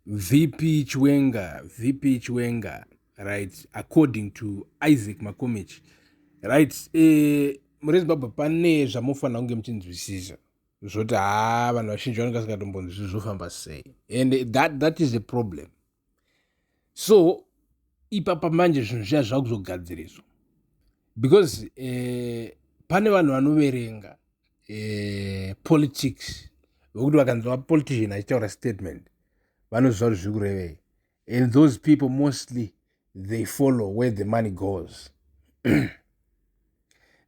VP Chiwenga, VP Chiwenga, right, according to Isaac Makomichi, right, eh, muri Zimbabwe pane zvamofanira kunge muchinzwisisa zvoti haa vanhu vazhinji vanenge vasingatombonzwisisi zvofamba sei and that, that is a problem so ipapa manje zvinhu zviya zvakuzogadziriswa because eh, pane vanhu vanoverenga eh, politics vekuti vakanzi vapolitician achitaura statement vanoziva kuti zviri kurevei and those people mostly they follow where the money goes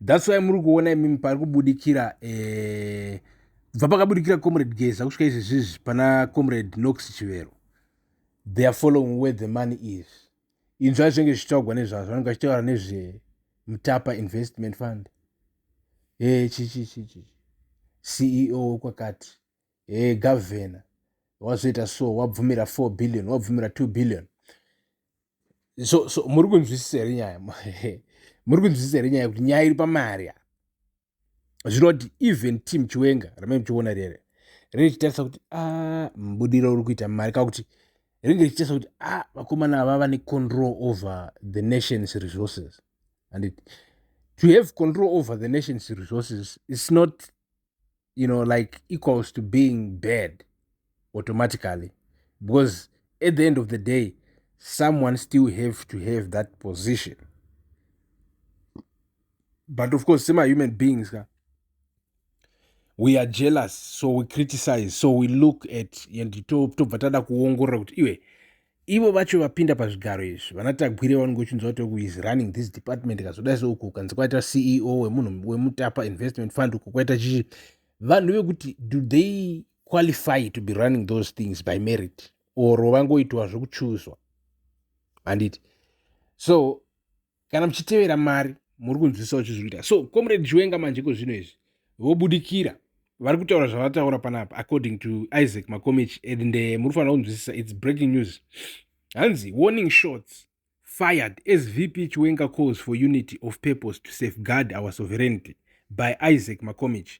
thats why muri kuona imimi pari kubudikira eh, bva pakabudikira comrade geza kusvika izvezvizvi pana comrade nox chivero they are following where the money is inzva zvinenge zvichitaugwa nezvazvo vanenge vachitaura nezvemutapa investment fund e chichichichi ceo wekwakati e gavhena wazoita so wabvumira 4 billion wabvumira 2 billion so so muri kunzwisisa here nyaya muri kunzwisisa here nyaya kuti nyaya iri pamari zvinoti even team chiwenga rame muchiona rere riri richitarisa kuti a ah, mubudiro uri kuita mari ka kuti ringe richitarisa kuti a ah, vakomana ava vane control over the nation's resources and it, to have control over the nation's resources is not you know like equals to being bad automatically because at the end of the day someone still have to have that position but of course semahuman beings ka we are jealous so we criticize so we look at and tobva tada kuongorora kuti iwe ivo vacho vapinda pazvigaro izvi vanatagwire vanenge uchinzwa kuti uku is running this department kazodai so uku ukanzi kwaita ceo wemunhu wemutapa investment fund uku kwaita chichi vanhu vekuti do they qualify to be running those things by merit or vangoitwa zvekuchuzwa handiti so kana muchitevera mari muri kunzwisisa uchizviita so comrade chiwenga manje iko zvino izvi vobudikira vari kutaura zvavataura panapa according to isaac makomich and eh, muri kufanira kunzwisisa its breaking news hanzi warning shots fired as vp chiwenga calls for unity of purpose to safeguard our sovereignty by isaac makomich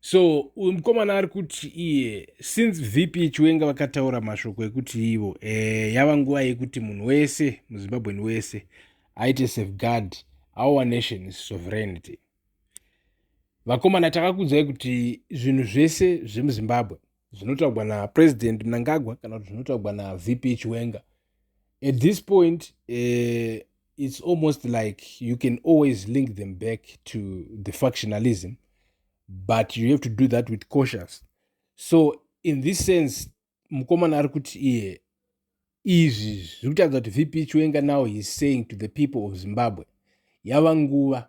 so uyu mukomana ari kuti iye since vp chiwenga vakataura mashoko ekuti ivo e, yava nguva yekuti munhu wese muzimbabweni wese aite safeguard our nation is sovereignty vakomana takakudzai kuti zvinhu zvese zvemuzimbabwe zvinotaugwa napresident mnangagwa kana kuti zvinotaugwa navp chiwenga at this point uh, it's almost like you can always link them back to the factionalism but you have to do that with cautious so in this sense mukomana ari kuti iye izvi zviri kutaridza kuti vp chiwenga now heis saying to the people of zimbabwe yava nguva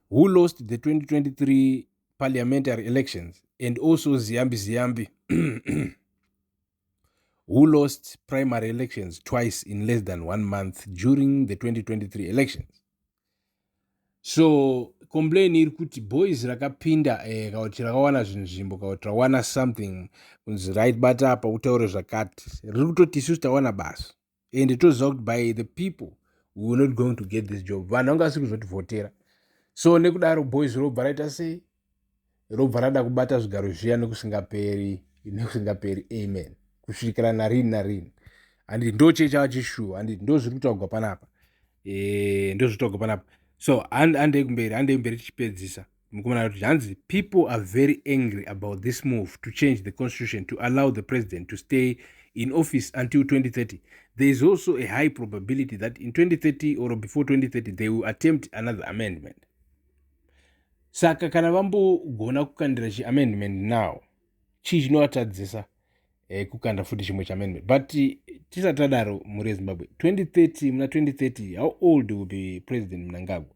who lost the 2023 parliamentary elections and also ziyambi ziyambi who lost primary elections twice in less than one month during the 2023 elections so complain iri kuti boys rakapinda eh, kana kuti rakawana zvinhu zvimbo kana kuti rawana something kunzi raibata apa utaure zvakati riri kutoti isusu tawana basa and toziva kuti by the people we were not going to get this job vanhu vanga vasiri kuzotivhotera so nekudaro boys robva raita sei robva rada kubata zvigaro zviya nekusingaperi nekusingaperi amen kusvikira narini narini handiti ndo chee chava chishuwa handiti ndo zviri kutaugwa panapa e, ndo zviri kutaugwa panapa so handei kumberi handei kumberi tichipedzisa mukomana kuti zvanzi people are very angry about this move to change the constitution to allow the president to stay in office until 2030 there is also a high probability that in 2030 or before 2030 they will attempt another amendment saka kana vambogona kukandira chiamendment now chii chinovatadzisa eh, kukanda futi chimwe chaamendment but eh, tisati tadaro mhuri yezimbabwe 2030 muna 2030 how old will be president mnangagwa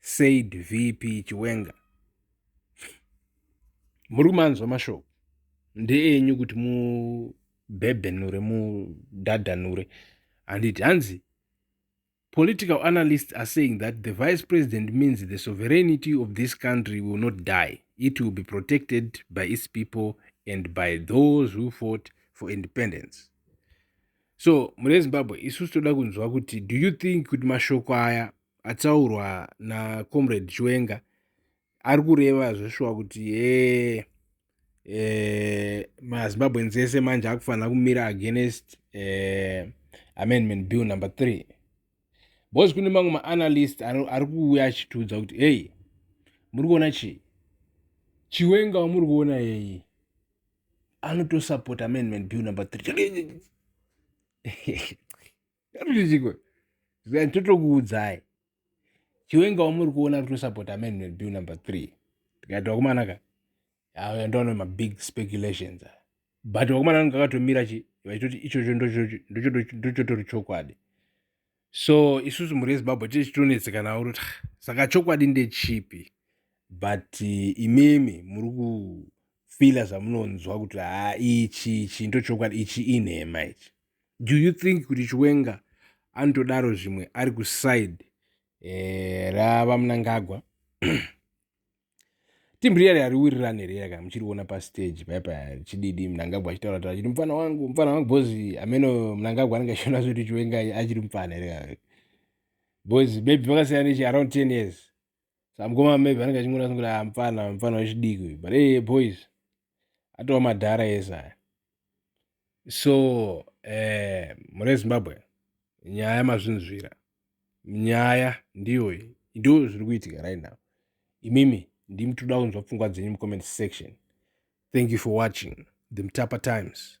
said vp chiwenga muri kumanzwa mashoko ndeenyu kuti mubhebhenure mudhadhanure handiti hanzi political analysts are saying that the vice president means the sovereignty of this country will not die it will be protected by its people and by those who fought for independence so mune zimbabwe isusu toda kunzwa kuti do you think kuti mashoko aya ataurwa nacomrade chiwenga ari kureva zveshuwa kuti hee eh, eh, mazimbabweans ese manje akufanira kumira against eh, amendment bill number three because kune mamwe maanalyst ari kuuya achitiudza kuti heyi muri kuona chii chiwenga wamuri kuona yeyi anotosapota amendment bill number three Ndatotichiko. Zviya ndotokuudzai. Chiwenga wamuri kuona kuti usapota Manuel Bill number 3. Tikati wakomana ka. Aya ndoona ma big speculations. But wakomana anga akatomira chi vachitoti ichocho ndocho ndochotori chokwadi. So isusu muri Zimbabwe tiri chitonetseka nawo kuti saka chokwadi ndechipi. But eh, imimi muri kufila zvamunonzwa kuti ha ichi ichi ndochokwadi ichi inhema ichi. do you think kuti chiwenga anotodaro zvimwe ari kuside eh, ravamunangagwa team riya riya riwirirane riya kana muchiriona pastage paya paya richididi mnangagwa achitaura taura chiti mupfana wangu mupfana wangu bhozi ameno mnangagwa anenge achiona zvekuti chiwenga achiri mupfana here bhozi maybe vakasiyana nechi around ten years sa mukoma maybe anenge achingona kuti ah, mfana mfana wechidiki uyu but hey, boys atova madhara ese aya so eh, mune zimbabwe nyaya mazvinzvira nyaya ndiyoyi ndo zviri kuitika right now imimi ndimi toda kunzwa pfungwa dzenyu mucomment section thank you for watching the mtapa times